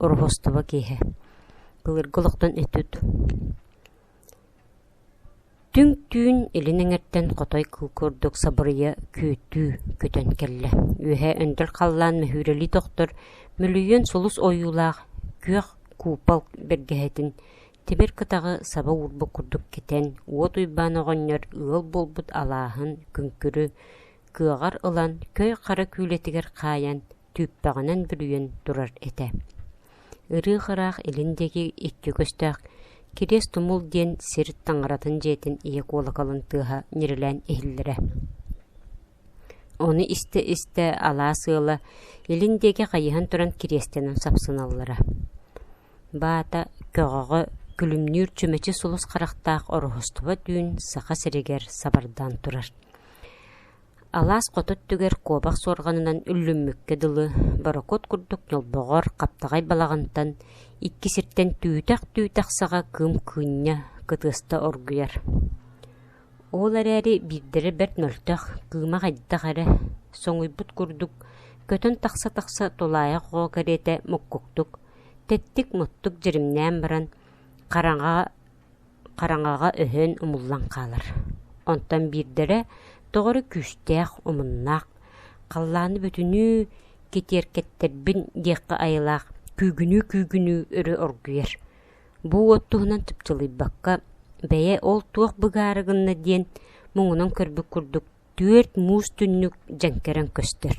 Уруһустуба киэһэ Былыргы олохтон этит Түҥ түүн илин эҥэртэн хотой кыл курдук сабырыйа күөттүү көтөн кэллэ. Үөһэ өндөр халлаан мөһүүрэлии тохтор, мүлүйүөн сулус ойуулаах күөх куупал бэргэһэтин тибэр кытаҕы саба уурбут курдук китэн, уот Уйбаан оҕонньор ыал буолбут алааһын, күҥкүрү кыаҕар ылан, көй хара күүлэтигэр хаайан, түүппэҕинэн бүрүйэн турар этэ ырыых-ыраах илин диэки икки көстөөх Кириэс-Тумул диэн сир таҥаратын дьиэтин ийэ куолакалын тыаһа ньирилээн иһиллэрэ ону истэ-истэ алаас ыала илин диэки хайыһан туран кириэстэнэн сапсыналлара баата көҕөҕө күлүмнүүр чүмэчи сулус харахтаах ороһустуба түүн саха сиригэр сабардаан турар Алаас хоту өттүгэр куобах суорҕанынан үллүммүккэ дылы, борокуот курдук ньолбоҕор хаптаҕай балаҕантан икки сиртэн түүтэх-түүтэх саҕа кыым-кыынньа, кытыаста оргуйар. Ол эрээри биирдэрэ бэрт мөлтөх, кыыма хайдах эрэ, соҥуйбут курдук, көтөн тахса-тахса тулаайах оҕо кэриэтэ муккуктук, тэттик-муттук дьиримнээн баран, хараҥаҕа хараҥаҕа өһөн умуллан хаалар, онтон биирдэрэ тоҕо эрэ күүстээх, умуннаах, халлааны бүтүнүү кэтиэркэттэрбин диэххэ айылаах күүгүнүү-күүгүнүү өрө оргуйар, бу уот туһунан чыпчылыйбакка «бэйэ ол туох быгаары гынна» диэн муҥунан көрбүт курдук түөрт муус түннүк дьэҥкэрэн көстөр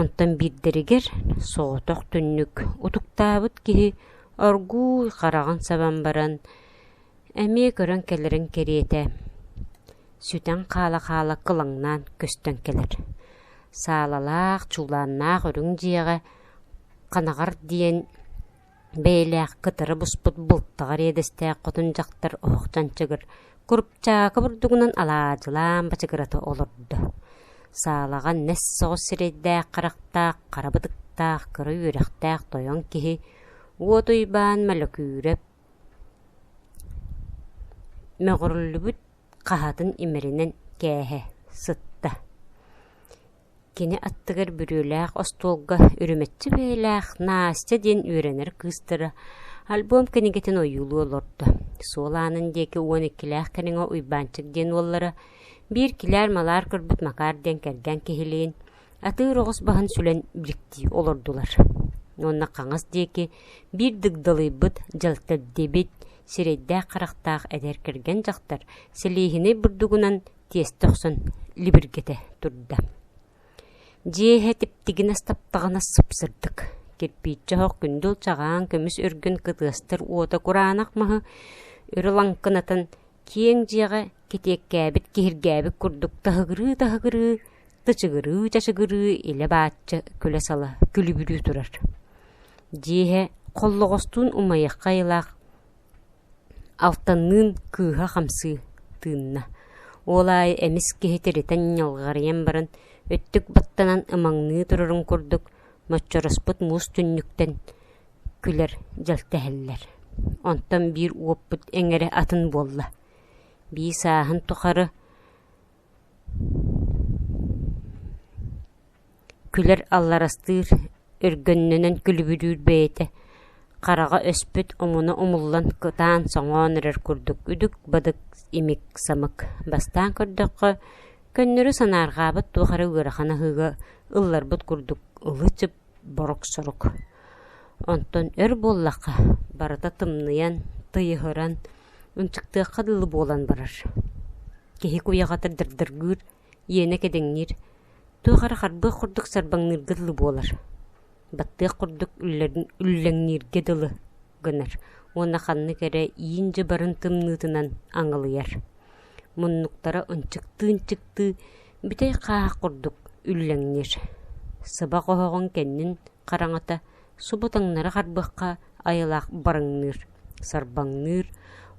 Онтон биирдэригэр соҕотох түннүк утуктаабыт киһи оргууй хараҕын сабан баран эмиэ көрөн кэлэрин кэриэтэ, сүтэн хаала-хаала кылаҥнаан көстөн кэлэр, саалалаах, чуулааннаах үрүҥ дьиэҕэ ханаҕар диэн бэйэлээх кытары буспут бултаҕа эриэдэстээх хотун дьахтар оһохтон чыгыр курупчаакы бурдугунан алаадьылаан бачыгырата олордо. Саалаҕа нэс соҕус сирэйдээх-харахтаах, хара бытыктаах, кыра үөрэхтээх тойон киһи уот уйбаан мөлөкүүрэп мөҕүрүллүбүт хаһатын имэринэн кээһэ сытта Кини аттыгар бүрүөлээх остуолга үрүмэччи бэйэлээх Настя диэн үөрэнэр кыыстара альбом кинигэтин ойуулуу олордо. Суол аанын диэки уон иккилээх кэриҥэ Уйбаанчык диэн уоллара, биир килээр-малаар көрбүт Макаар диэн кэргэн киһилиин, атыыр оҕус баһын сүлэн биликтии олордулар. Уонна хаҥас диэки биир дыгдалыйбыт, дьэлтэрдибит, сирэйдээх-харахтаах эдэр кэргэн дьахтар сэлиэһинэй бурдугунан тиэстэ охсон либиргэтэ турда дьиэһэ типтигинэс таптаҕына сыпсырдык кирпииччэ оһох күндүл чагаан көмүс үргүн кытыастар уота кураанах маһы өрө лаҥкынатан киэҥ дьиэҕэ кэтиэккээбит киһиргээбит курдук таһыгырыы-таһыгырыы тычыгырыы-чачыгырыы илэ-баачча күлэ-сала күлүбүрүү турар дьиэһэ холлоҕостуун умайыахха айылаах Алтанныын кыыһа хамсыы тыынна, ол аайы эмис киһи тиритэн ньалҕарыйан баран, өттүк баттанан ымаҥныы турарын курдук, моччороспут муус түннүктэн күлэр, дьэлтэһэллэр. Онтон биир уоппут эҥэрэ атын буолла: «Бии сааһын тухары Күлэр алларастыыр, өргөннөнөн күлүбүрүүр бэйэтэ, хараҕа өспүт омуна умуллан кытаан соҥоон эрэр курдук үдүк-бадык, имик-самык. Бастаан көрдөххө, көннөрү санаарҕаабыт туох эрэ ыарахан аһыыга ылларбыт курдук ылы-чып Борок-сорук. Онтон өр буоллахха, барыта тымныйан, тыйыһыран, ынчыктыахха дылы буолан барар. Киһи куйаҕата дырдыргыыр, иэнэ кэдэҥниир, туох эрэ харбыах курдук сарбаҥныырга дылы буолар. Баттыах курдук үллэн- үллэҥнииргэ дылы гынар уонна ханнык эрэ иин дьыбарын тымныытынан аҥылыйар. Муннуктара ынчыктыы-ынчыктыы Бүтэй хааһах курдук үллэҥниир, сыбах оһоҕун кэннин хараҥата субу таҥнары харбыахха айылаах барыҥныыр, сарбаҥныыр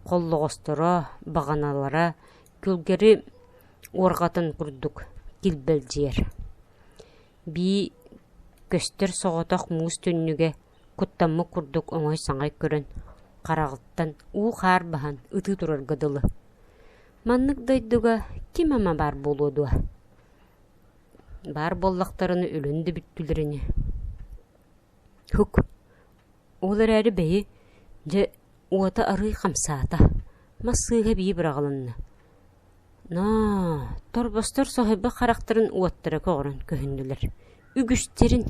холлоҕосторо, баҕаналара күлгэри уорҕатын курдук килбэлдьийэр. Бии көстөр соҕотох муус түннүгэ куттаммыт курдук оҥой-саҥай көрөн, хараҕыттан уу-хаар баһан ытыы турарга дылы. Маннык дойдуга ким ама баар буолуо дуо? Баар буоллахтарына өлөн да бүттүлэрини. Һук, ол эрээри бэйи, дьэ, уота арыый хамсаата, мас сыыһа эбии быраҕылынна. Ноо, торбостор соһуйбут харахтарын уоттара көҕөрөн көһүннүлэр. Үгүстэрин.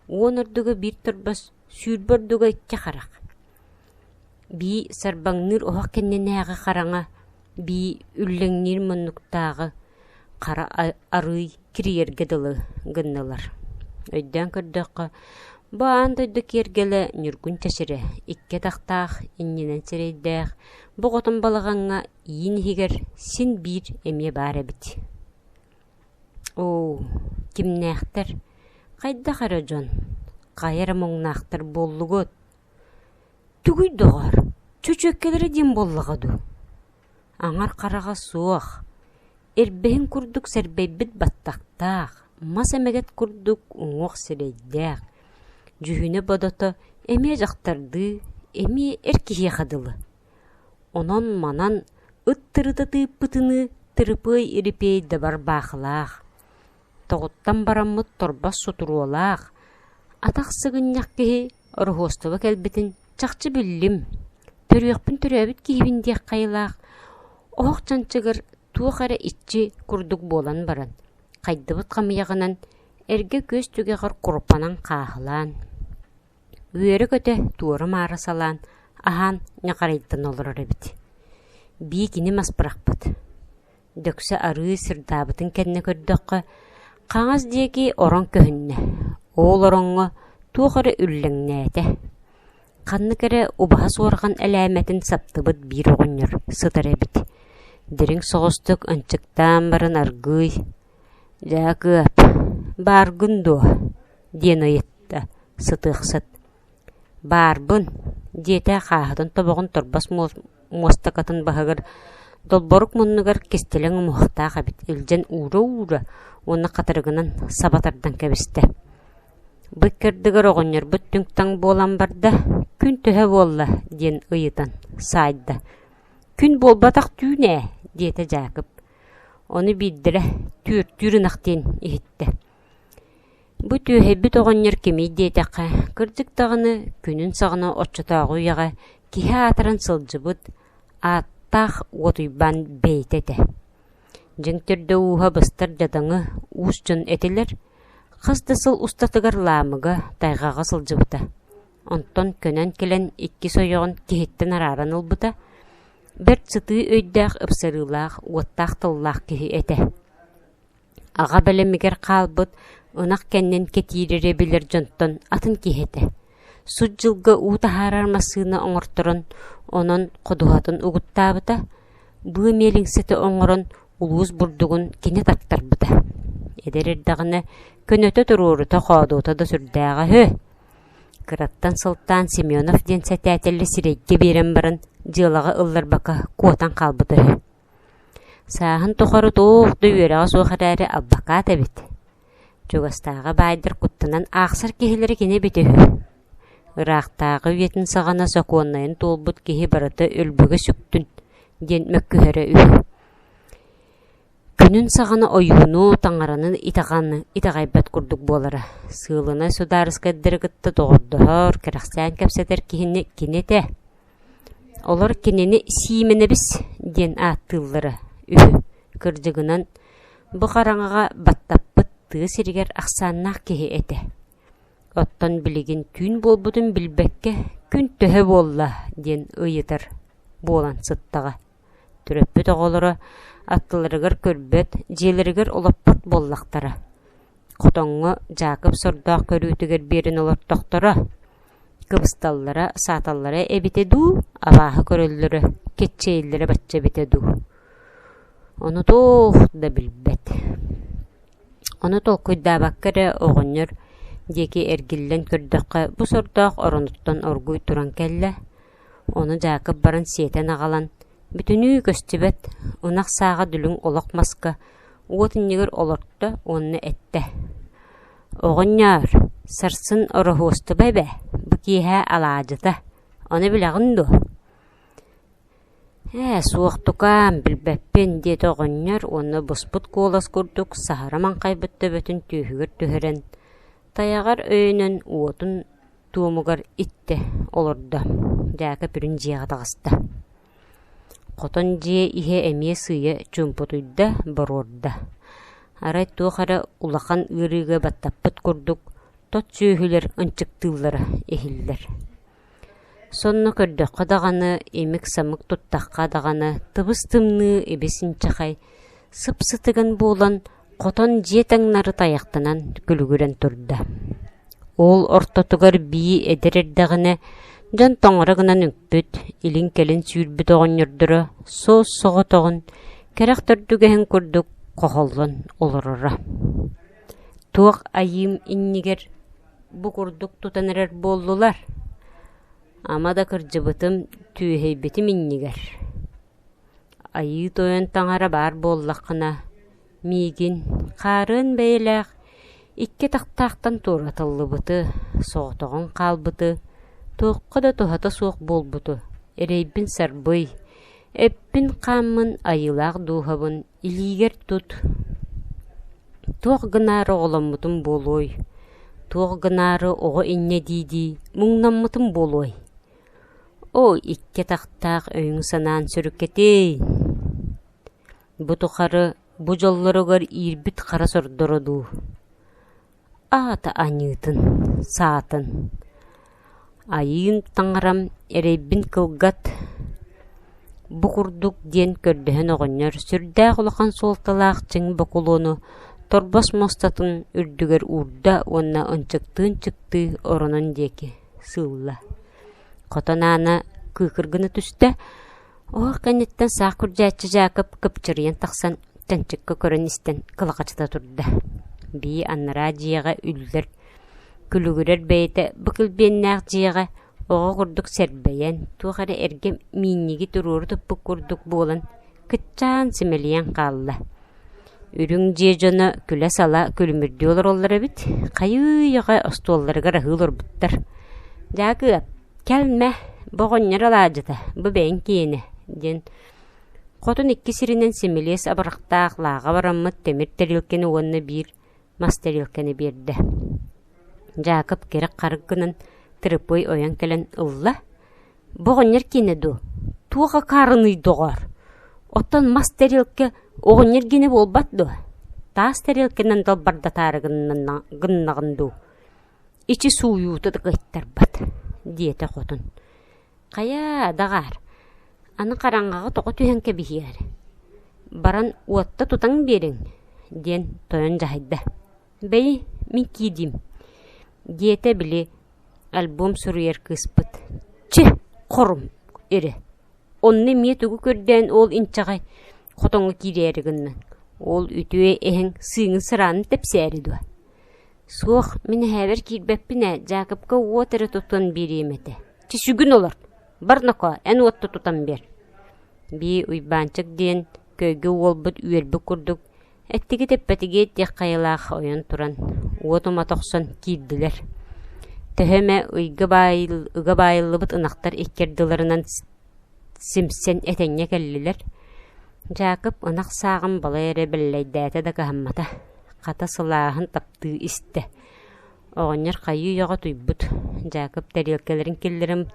Уон ордуга биир торбос, сүүрбэ ордуга икки харах. Бии сарбаҥныыр оһох кэннинээҕи хараҥа, бии үллэҥниир муннуктааҕы хара арыый кирийэргэ дылы гыннылар. Өйдөөн көрдөххө, бу аан дойду киэргэлэ Ньургун Чачыры икки атахтаах иннинэн сирэйдээх, боҕотун балаҕаҥҥа иин иһигэр син биир эмиэ баар эбит. Оо, кимнээхтэр, хайдах эрэ дьон, хайа эрэ муҥнаахтар буоллугут? Тугуй, доҕоор, чөчүөккэлэрэ диэн буоллаҕа дуу, аҥар хараҕа суох, ирбэһин курдук сэрбэйбит баттахтаах, мас эмэгэт курдук уҥуох сирэйдээх, дьүһүнэ-бодото эмиэ дьахтардыы, эмиэ эр киһиэхэ дылы. Онон-манан ыт тырыта тыыппытыныы Тырыпыай Ирипиэй дабар баахылаах, тоҕуттан бараммыт торбос сутуруолаах, атах сыгынньах киһи Ороһуостуба кэлбитин чахчы биллим, төрүөхпүн төрөөбүт киһибин диэх хайалаах, оһох чанчыгыр туох эрэ иччи курдук буолан баран, хайдыбыт хамыйаҕынан эргэ күөс түгэҕэр куруппанан хааһылаан, үөрэ-көтө туора-маара салаан, аһаан ньахарайтан олорор эбит. Бии кини мас бырахпыт Дьөксө арыы сырдаабытын кэннэ көрдөххө, хаҥас диэки орон көһүннэ, уол ороҥҥо туох эрэ үллэҥнээтэ, ханнык эрэ убаһа суорҕан элээмэтин саптыбыт биир оҕонньор сытар эбит, дириҥ соҕустук ынчыктаан баран аргыый «Дьаакыап, бааргын дуо?» диэн ыйытта сытыахсыт. «Баарбын», диэтэ хааһытын тобоҕун торбос муостакатын баһыгар, долборук муннугар кистэлэҥ умуһахтаах эбит, илдьэн уура-уура уонна хатырыгынан саба тардан кэбистэ. Бу иккирдигэр оҕонньорбут түҥ-таҥ буолан барда, «Күн төһө буолла?» диэн ыйытан саайда. «Күн буолбатах түүн ээ», диэтэ Дьаакып. Ону биирдэрэ түөртүүр ынах диэн иһиттэ. Бу түөһэйбит оҕонньор кимий диэтэххэ, кырдьык даҕаны, күнүн саҕана оччотооҕу үйэҕэ киһи аатыран сылдьыбыт, ааттаах Уотуйбаан бэйэтэ этэ. Дьиҥ төрдө-ууһа быстар дьадаҥы, уус дьон этилэр, хас да сыл устатыгар Лаамыга, тайҕаҕа сылдьыбыта. Онтон көнөн кэлэн иккис ойоҕун киһиттэн арааран ылбыта, бэрт сытыы өйдөөх-ыпсарыылаах, уоттаах тыллаах киһи этэ Аҕа бэлэмигэр хаалбыт, ынах кэннин кэтиир эрэ билэр дьонтон атын киһи этэ, сут дьылга уу таһаарар массыына оҥорторон, онон ходуһатын угуттаабыта, быа миэлиҥсэтэ оҥорон улуус бурдугун кини таттарбыта. Эдэр эрдэҕинэ көнөтө туруорута-хоодута да сүрдээҕэ үһү. Кыраттан сылтаан Семенов диэн сэтээтэл сирэйгэ биэрэн баран дьыалаҕа ылларбакка куотан хаалбыта үһү. Сааһын тухары туох да үөрэҕэ суох эрээри албакаат эбит. Чугастааҕы баайдар куттанан аахсар киһилэрэ кини эбитэ үһү. Ыраахтааҕы үйэтин саҕана сокуоннайын туолбут киһи барыта өлбүгэ сүктүн диэн мөккүһэрэ үһү. Күнүн саҕана ойууну, таҥаранан итэҕэни итэҕэйбэт курдук буолара. Сыылынай судаарыскайдары кытта доҕордоһор, кэрэхсээн кэпсэтэр киһини кини этэ. Олор кинини Сиимэнэбис диэн ааттыыллара үһү, кырдьыгынан, бу хараҥаҕа баттаппыт тыа сиригэр ахсааннаах киһи этэ. Оттон билигин түүн буолбутун билбэккэ «күн төһө буолла?» диэн ыйытар буолан сыттаҕа. Төрөппүт оҕолоро аттыларыгар көрбөт, дьиэлэригэр олоппот буоллахтара. Хотоҥҥо Дьаакып сордоох көрүүтүгэр биэрэн олортохторо, кыбысталлара, сааталлара эбитэ дуу, абааһы көрөллөрө, киччийэллэрэ бачча эбитэ дуу? Онутуох да билбэт Ону толкуйдаабакка эрэ оҕонньор диэки эргиллэн көрдөххө, бу сордоох оронуттан оргууй туран кэллэ, Ону Дьаакып баран сиэтэн аҕалан, бүтүнүү көстүбэт, ынах сааҕа дүлүҥ олох маска уот иннигэр олорто уонна эттэ: «Оҕонньоор, сарсын Ороһуостуба эбэ, бу киэһэ алаадьыта, ону билэҕин дуо?» «Ээ, суохтукаан, билбэппин», – диэтэ оҕонньор уонна буспут куолас курдук саһара маҥхайбыт төбөтүн түөһүгэр түһэрэн, тайаҕар өйөнөн уотун туомугар иттэ олордо Дьаакып үрүн дьиэҕэ таҕыста хотон дьиэ иһэ эмиэ сыыйа чуумпутуйда боруорда арай туох эрэ улахан ыарыыга баттаппыт курдук тот сүөһүлэр ынчыктыыллара иһиллэр сонно көрдөххө даҕаны имик-самык туттахха даҕаны тыбыс-тымныы ибис-инчэхэй сып-сытыгын буолан Хотон дьиэ таҥнары тайахтанан күлүгүрэн турда. Уол ортотугар бии эдэр эрдэҕинэ, дьон тоҥоро гынан үкпүт, илин-кэлин сүүрбүт оҕонньордоро соос-соҕотоҕун, кэрэх төрдүгэһин курдук хоһоллон олороро. Туох айыым иннигэр бу курдук тутан эрэр буоллулар? Ама да кырдьыбытым, түөһэйбитим иннигэр Айыы Тойон таҥара баар буоллаххына, миигин, хаарыан бэйэлээх, икки атахтаахтан туоратыллыбыты, соҕотоҕун хаалбыты, туохха да туһата суох буолбуту эрэйбин сарбый, эппин-хааммын айыылаах дууһабын илиигэр тут, туох гынаары оҕоломмутум буолуой, туох гынаары оҕо инньэ дии-дии муҥнаммытым буолуой Оо, икки атахтаах өйүҥ-санааҥ сөрүккэтиэй! Бу тухары бу дьоллоругар иирбит хара сордоро дуу? Аата аньыытын, саатын. Айыым таҥарам, эрэйбин кылгат, бу курдук диэн көрдөһөн оҕонньор сүрдээх улахан суолталаах чиҥ бокулуону торбос муостатын үрдүгэр уурда уонна ынчыктыы-ынчыктыы оронун диэки сыылла. Хотон аана кыыкыр гына түстэ, оһох кэнниттэн саах күрдьээччи Дьаакып кыпчырыйан тахсан, тэнчиккэ көрөн-истэн кылахачыта турда. Бии аннараа дьиэҕэ үллэр, күлүгүрэр бэйэтэ быкилбиэннээх дьиэҕэ оҕо курдук сэрбэйэн, туох эрэ эргэ миинньиги туруору туппут курдук буолан, кыччаан симэлийэн хаалла. Үрүҥ дьиэ дьоно күлэ-сала күлүмүрдүү олороллор эбит, хайыы-үйэҕэ остуолларыгар аһыы олорбуттар: «Дьаакыап, кэлмэ, бу оҕонньор алаадьыта, бу бэйэҥ киэнэ» диэн хотун икки сиринэн симилиэс абырахтаах лааҕа бараммыт тимир тарелканы уонна биир мас тарелканы биэрдэ. Дьаакып кэрэх-харык гынан, Тырыпый ойон кэлэн ылла, Бу оҕонньор киэнэ дуу, туох акаарыный, доҕоор, оттон мас тэриэлкэ оҕонньор киэнэ буолбат дуо, таас тэриэлкэнэн далбардатаары гыннаҕын дуу, ичи сууйуута да кыайтарбат, диэтэ хотун. «Хайаа, даҕаар, аны хараҥаҕа тоҕо түһэн кэбиһиэҕиҥ, баран уотта тутан биэриҥ», диэн тойон дьаһайда «Бэй, мин киирдим» диэтэ били альбом суруйар кыыспыт «Чи, хорум, ирэ, онно эмиэ тугу көрдөөн ол инчэҕэй хотоҥҥо киирээри гынна, ол үтүө эһэҥ сыыҥын сыраанын тэпсээри дуо?» «Суох, мин эһээбэр киирбэппин ээ, Дьаакыпка уот эрэ тутан биэриэм этэ, чэ сүгүн олор, барнакоо, эн уотта тутан биэр» – Бии Уйбаанчык диэн көйгө уолбут үөрбүт курдук Эттиги тэппэтигиэт диэх хайалаах ойон туран, уот ума тохсон киирдилэр. Төһө эмэ ыйга баайыл, ыга баайыллыбыт ынахтар иккэрдилэринэн симсэн этэҥҥэ кэллилэр. Дьаакып ынах сааҕын балай эрэ бэллэйдээтэ да кыһаммата, хата сылааһын таптыы истэ. Оҕонньор хайыы үйэҕэ туйбут, Дьаакып тэриэлкэлэрин киллэрим,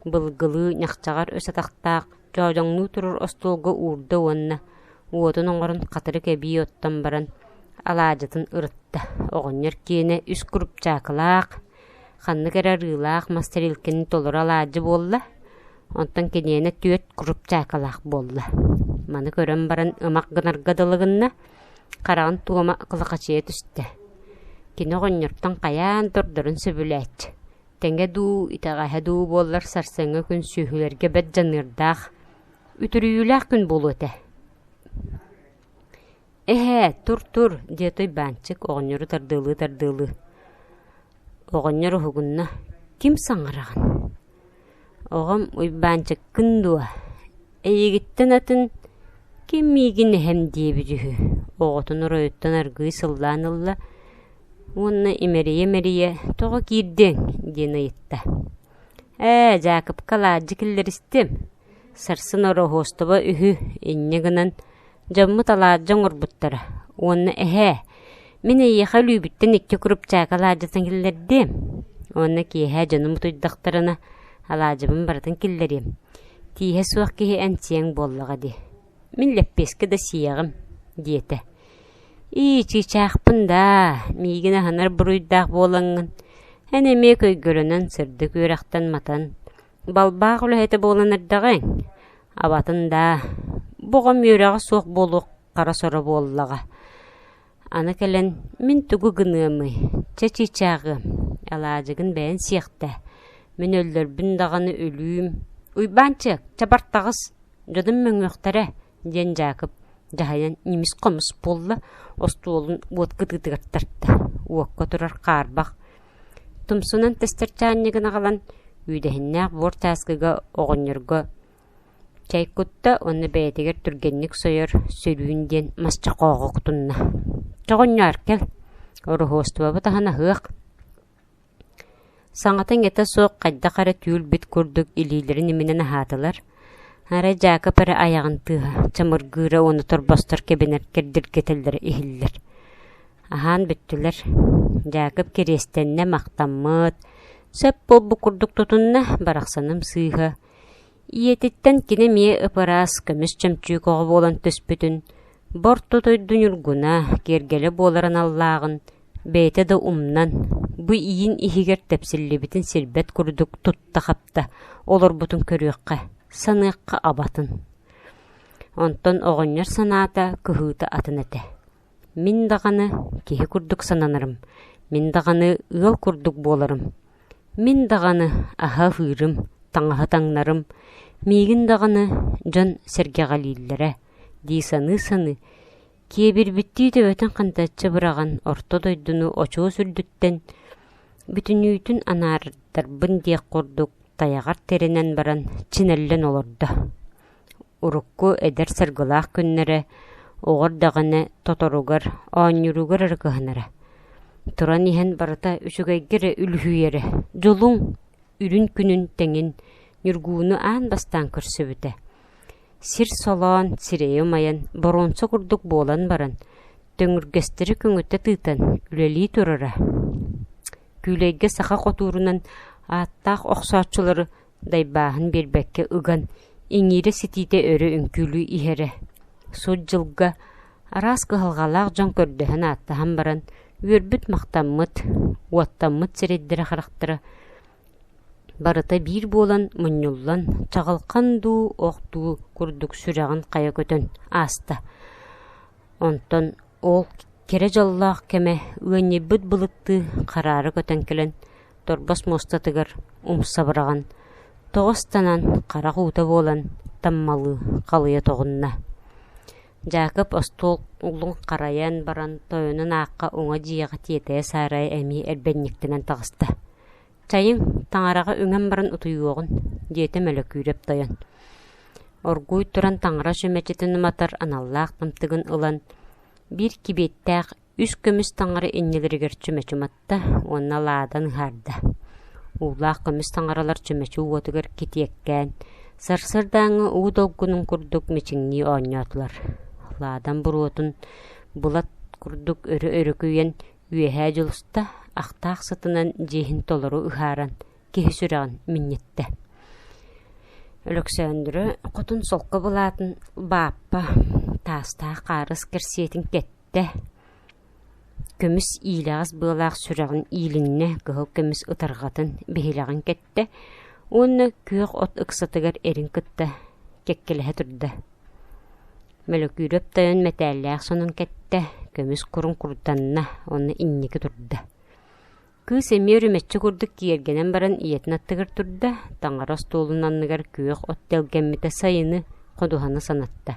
былгылыы, ньахчаҕар өс атахтаах, Тоодоҥнуу турар остуолга уурда уонна, уотун оҥорон хатырык эбии оттон баран, алаадьытын ырытта. Оҕонньор киэнэ үс курупчаакылаах, ханнык эрэ арыылаах мас тэрилкэни толору алаадьы буолла, онтон киниэнэ түөрт курупчаакылаах буолла. Маны көрөн баран ымах гынарга дылы гынна, хараҕын туома кылахачыйа түстэ. Кини оҕонньортон хайаан тордорун сөбүлээччи. тэҥэ дуу, итэҕэһэ дуу буоллар сарсыҥҥы күн сүөһүлэргэ бэрт дьаныардаах, үтүрүйүүлээх күн буолуо этэ. «Эһээ, тур-тур!» – диэ Туйбаанчык оҕонньору тардыалыы-тардыалыы. Оҕонньор уһугунна. «Ким саҥараҕын?» «Оҕом Уйбаанчыккын дуо? Эйигиттэн атын ким миигин эһэм диэбит үһү», оҕотун оройуттан аргыый сыллаан ылла уонна имэрийэ-имэрийэ «Тоҕо киирдиҥ?» диэн ыйытта. «Ээ, Дьаакыпка алаадьы киллэристим, сарсын ороһуостуба үһү инньэ гынан, дьоммут алаадьы оҥорбуттара уонна эһээ, мин эйиэхэ өлүүбүттэн икки курупчаакы алаадьытын киллэрдиэм уонна киэһэ дьонум утуйдахтарына, алаадьыбын барытын киллэриэм, тииһэ суох киһи эмсиэҥ буоллаҕа дии» Мин лэппиэскэ да сиэҕим, диэтэ. «Ии, чыычаахпын даа, миигин аһынар буруйдаах буолаҥҥын, эн эмиэ көйгөлөнөн сырдык үөрэхтэн матан, балбаах үлэһитэ буолан эрдэҕиҥ, абатын даа, бу оҕом үөрэҕэ суох буолуох хара соро буоллаҕа» Аны кэлэн, мин тугу гыныамый, чэ чыычааҕыам, алаадьыгын бэйэн сиэхтээ, мин өллөрбүн даҕаны өлүүм, Уйбаанчык, чабартаҕыс, дьонум мөҥүөхтэрэ, диэн Дьаакып дьаһайан нимис-хомус буолла, остуолун уот кытыытыгар тарта, уокка турар хаарбах, тумсунан тэстэрчээнньик ынаҕалан, үүдэһиннээх буор чааскыга оҕонньорго Чэй кутта уонна бэйэтигэр түргэнник сойор «Сөрүүн» диэн масчахооҕу кутунна: «Чэ, оҕонньоор, кэл, ороһуостубабыт аһын аһыах» Саҥата иҥэтэ суох хайдах эрэ түүл-бит курдук илиилэрин иминэн аһаатылар, арай Дьаакып эрэ айаҕын тыаһа, чамыргыыра уонна торбостор кэбинэр кэрдиргэтэллэрэ иһиллэр. Аһаан бүттүлэр. Дьаакып кириэстэннэ, махтаммыт, сөп буолбут курдук тутунна, барахсаным сыыһа Ийэтиттэн кини эмиэ ып-ыраас көмүс чөмчүүк оҕо буолан түспүтүн, бу орто дойду ньургуна, киэргэлэ буолар аналлааҕын, бэйэтэ да умнан, бу иин иһигэр тэпсиллибитин сирбэт курдук тутта-хапта олорбутун көрүөххэ, саныахха абатын. Онтон оҕонньор санаата, кыһыыта атын этэ Мин даҕаны киһи курдук сананарым, мин даҕаны ыал курдук буоларым, мин даҕаны аһа-аһыырым, таҥаһы таҥнарым, миигин даҕаны дьон сэргэҕэлииллэрэ дии саныы-саныы, киэбирбиттии төбөтүн хантаччы быраҕан орто дойдуну очуос үрдүттэн бүтүннүүтүн анаардарбын диэх курдук тайаҕар тэринэн баран чинэллэн олордо Урукку эдэр саргылаах күннэрэ оҕо эрдэҕинэ тоторугар, оонньууругар эрэ кыһанара. Туран иһэн барыта үчүгэйгэ эрэ үлүһүйэрэ, дьулуҥ, үрүн күнүн тэҥин Ньургууну аан бастаан көрсүбүтэ. Сир солоон, сирэйи умайан, боруонса курдук буолан баран, төҥүргэстэри көҥүтэ тыытан үлэлии турара. Күүлэйгэ саха хотуурунан ааттаах охсооччулары дайбааһын биэрбэккэ ыган, иҥиирэ-ситиитэ өрө үҥкүүлүү иһэрэ. Сут дьылга араас кыһалҕалаах дьон көрдөһөн-ааттаһан баран, үөрбүт-махтаммыт, уоттаммыт сирэйдэрэ-харахтара барыта биир буолан, мунньуллан, чаҕылхан дуу, ох дуу курдук сүрэҕин хайа көтөн ааста. Онтон Ол кэрэ дьоллоох кэмэ ыанньыйбыт былыттыы хараары көтөн кэлэн торбос муостатыгар умса быраҕан, тоҕо ыстанан харах уута буолан таммалыы халыйа тоҕунна. Дьаакып остуол углун харайан баран тойонун аахха уҥа дьиэҕэ тиэтэйэ саарайа эмиэ эрбэнньиктэнэн таҕыста Чайыҥ, таҥараҕа үҥэн баран утуйуоҕун, диэтэ Мөлөкүүрэп тойон. Оргууй туран таҥарач мэчэтин уматар аналлаах тымтыгын ылан, биир кибиэттээх үс көмүс таҥара иннилэригэр чүмэчи уматта уонна лаадан ыһаарда. Уулаах көмүс таҥаралар чүмэчи уотугар китиэккээн, сарсыардааҥҥы уу долгунун курдук мичиҥнии оонньоотулар. Лаадан буруотун былат курдук өрө өрүкүйэн, Үөһээ Дьулуста ахтаах сытынан дьиэһин толору ыһааран киһи сүрэҕин минньиттэ. Өлөксөөндүрө хотун солко былаатын Бааппа таастаах хаарыс кэрсиэтин кэттэ, көмүс иилэҕэс быалаах сүрэҕин иилиннэ, кыһыл көмүс ытарҕатын биһилэҕин кэттэ уонна күөх от ыксатыгар эрин кытта кэккэлэһэ турда. Мөлөкүүрэп тойон мэтээллээх сонун кэттэ, көмүс куруҥ курданна уонна инники турда. Кыыс эмиэ үрүмэччи курдук киэргэнэн баран ийэтин аттыгар турда, таҥара остуолун анныгар күөх от тэлгэммитэ сайыны ходуһаны санатта.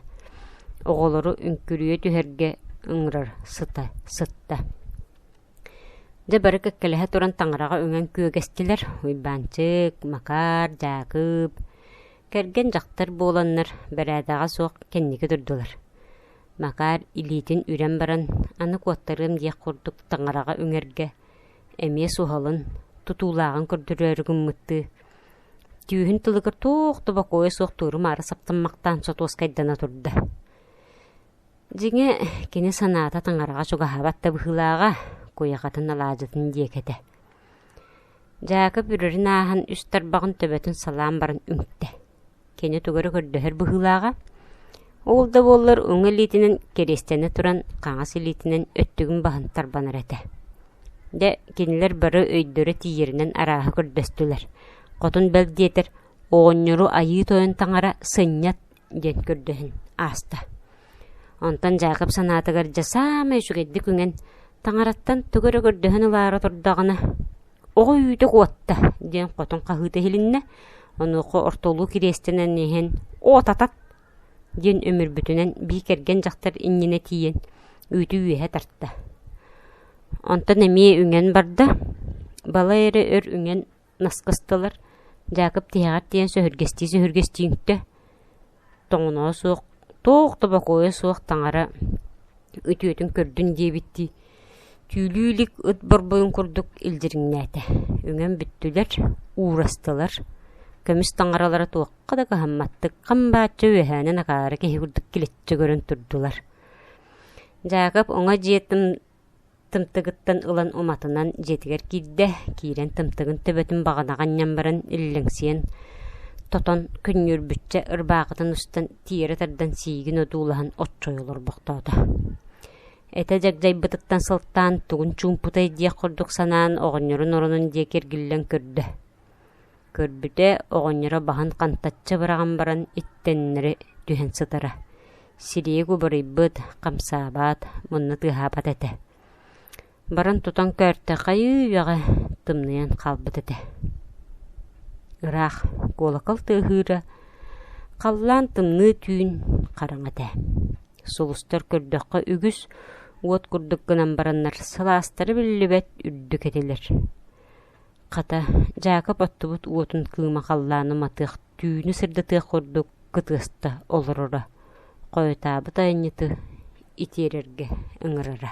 Оҕолору үҥкүрүйэ түһэргэ ыҥырар сыта сытта. Дьэ бары кэккэлэһэ туран таҥараҕа үҥэн күөгэстилэр. Уйбаанчык, Макаар, Дьаакып, Кэргэн дьахтар буоланнар, бэрээдэҕэ суох кэнники турдулар. Макаар илиитин үрэн баран, аны куоттарыам диэх курдук таҥараҕа үҥэргэ, эмиэ суһалын, тутуулааҕын көрдөрөөрү гыммыттыы, түүһүн тылыгар туох да бокуойа суох туору-маары саптаммахтаан сотуоскайдана турда. Дьиҥэ, кини санаата таҥараҕа чугаһаабат да быһыылааҕа, куйахатын алаадьытын диэкэтэ. Дьаакып үрэрин ааһан үс тарбаҕын төбөтүн салаан баран үҥтэ. Кини тугу эрэ көрдөһөр быһыылааҕа, ол да буоллар уҥа илиитинэн кириэстэнэ туран хаҥас илиитинэн өттүгүн баһан тарбанар этэ. Дэ кинилэр бары өйдөрө тиийэринэн арааһы көрдөстүлэр. Хотун бэл диэтэр, оҕонньору айыы тойон таҥара сынньат, диэн көрдөһөн ааста. Онтон Дьаакып санаатыгар дьэ саамай үчүгэйдик үҥэн таҥараттан тугу эрэ көрдөһөн ылаары турдаҕына «Оҕо үүтүк уотта» диэн хотун хаһыыта иһилиннэ. Онуоха ортолуу кириэстэнэн иһэн «Уотатат!» диэн өмүрбүтүнэн бии кэргэн дьахтар иннинэ тиийэн үүтү үөһэ тарта. Онтон эмиэ үҥэн барда. Балай эрэ өр үҥэн Нас кыстылар, Дьаакып тиһэҕэр тиийэн сөһүргэстии-сөһүргэстииҥтэ, тоҥоноо суох, туох да бокуойа суох таҥара үтүөтүн көрдүн диэбиттии, түүлүү илик ыт борбойун курдук илдьириҥнээтэ. Үҥэн бүттүлэр, уурастылар, көмүс таҥаралара туохха да кыһамматтык, хам бааччы үөһээнэн акаары киһи курдук килэччи көрөн турдулар. Дьаакып оҥо дьиэтин Тымтыгыттан ылан уматынан дьиэтигэр киирдэ, киирэн тымтыгын төбөтүн баҕанаҕа анньан баран иллэҥсийэн, тотон, күннүүрбүччэ ырбаахытын устан тиэрэ тардан сиигин одуулаһан оччойо олорбохтоото. Этэ дьагдайбытыттан сылтаан тугун чуумпутай диэх курдук санаан оҕонньорун оронун диэки эргиллэн көрдө Көрбүтэ, оҕонньоро баһын хантаччы быраҕан баран иттэннэри түһэн сытара, сирийик убарыйбыт, хамсаабат, мунна тыаһаабат этэ. Баран тутан көөртө, хайыы үөҕэ, тымныйан хаалбыт этэ. Ыраах куолакал тыаһыыра, халлаан тымныы түүн хараҥа этэ. Сулустар көрдөххө үгүс уот курдук гынан бараннар, сылаастара биллибэт үрдүк этилэр. Хата, Дьаакып оттубут уотун кыыма халлааны матыах, түүнү сырдатыах курдук кытыста олороро, хойутаабыт айанньыты итиэрэргэ ыҥырара